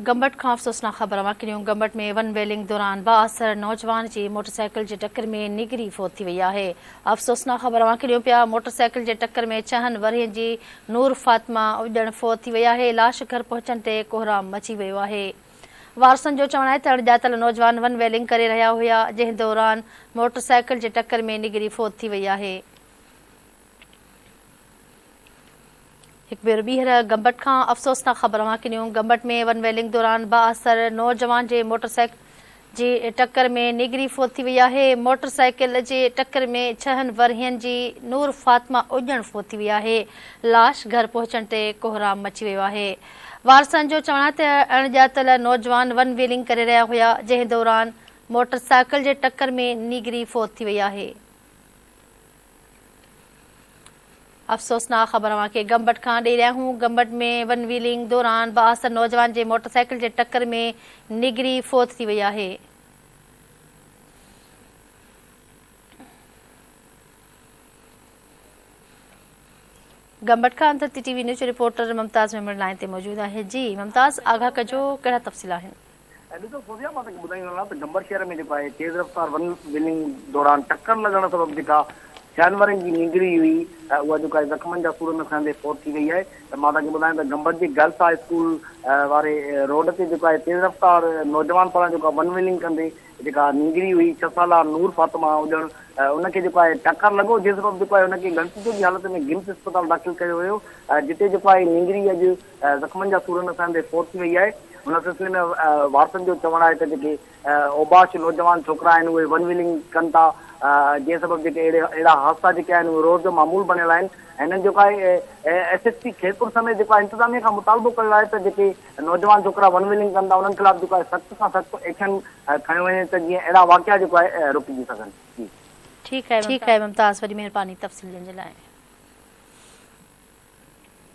گمبٽ کان افسوسناڪ خبر مڪليون، گمبٽ ۾ ون ويلنگ دوران بااثر نوجوان جي موٽرسائيڪل جي ٽڪر ۾ نيڳري فوت ٿي وئي آهي. افسوسناڪ خبر مڪليون پيا، موٽرسائيڪل جي ٽڪر ۾ ڇهن ورهين جي نور فاطمه اڄڄڻ فوت ٿي وئي آهي، لاش گهر پهچڻ تي ڪهرام مچي ويو آهي. وارثن جو چوڻ آهي ته اڻڄاتل نوجوان ون ويلنگ ڪري رهيا هيا، جنهن دوران موٽرسائيڪل جي ٽڪر ۾ نيڳري فوت ٿي وئي آهي. هڪ ڀيرو ٻيهر گمبٽ کان افسوسناڪ خبر اوهان کي ڏيون گمبٽ ۾ ون ويلنگ دوران بااثر نوجوان جي موٽر سائيڪل جي ٽڪر ۾ نيگري فوت ٿي وئي آهي موٽر سائيڪل جي ٽڪر ۾ ڇهن ورهين جي نور فاطمه اڄڻ فوت ٿي وئي آهي لاش گهر پهچڻ تي ڪهرام مچي ويو آهي وارثن جو چوڻ آهي ته اڻ ڄاتل نوجوان ون ويلنگ ڪري رهيا هيا جنهن دوران موٽر سائيڪل جي ٽڪر ۾ نيگري فوت ٿي وئي آهي افسوسناڪ خبر اوهان کي گمبٽ کان ڏئي رهيا آهيون گمبٽ ۾ ون ويلنگ دوران بااثر نوجوان جي موٽر سائيڪل جي ٽڪر ۾ نگري فوت ٿي وئي آهي. گمبٽ کان اندر تي ٽي وي نيوز جي رپورٽر ممتاز ميمڻ لائين تي موجود آهي جي ممتاز آگاهه ڪجو ڪهڙا تفصيل آهن. ۽ ڏسو فوزيا مان توکي ٻڌائيندو هلان ته گمبر شهر ۾ جيڪو آهي تيز رفتار ون ويلنگ دوران ٽڪر لڳڻ سبب جيڪا جانورن جي نينگري هئي ۽ اها جيڪو آهي زخمن جا سور نه سهندي فوت ٿي وئي آهي ته مان توکي ٻڌايان ته گمبر جي گرلس هاء اسڪول واري روڊ تي جيڪو آهي تيز رفتار نوجوان پاران جيڪو ون ويلنگ ڪندي جيڪا نينگري هئي ڇهه سالا نور فاطمه اڄڻ ان کي جيڪو آهي ٽڪر لڳو جنهن سبب جيڪو آهي ان کي ڳڻتي جوڳي حالت ۾ گمس اسپتال داخل ڪيو ويو جتي جيڪو آهي نينگري اڄ زخمن جا سور نسائي هوندي فوت ٿي وئي آهي. ان سلسلي ۾ وارثن جو چوڻ آهي ته جيڪي اوباش نوجوان ڇوڪرا آهن اهي ون ويلنگ ڪن ٿا جنهن سبب جيڪي اهڙا حادثا جيڪي آهن اهي روز جو معمول بڻيل آهن ۽ هنن جيڪو آهي ايس ايس پي خيرپور سميت جيڪو آهي انتظاميه کان مطالبو ڪيو آهي ته جيڪي نوجوان ڇوڪرا ون ويلنگ ڪن ٿا انهن خلاف جيڪو آهي سخت کان سخت ايڪشن کنيو وڃي ته جيئن اهڙا واقعا جيڪو آهي رڪجي سگهن جي ٺيڪ آهي ممتاز وڏي مهرباني تفصيل ڏيڻ جي لاء.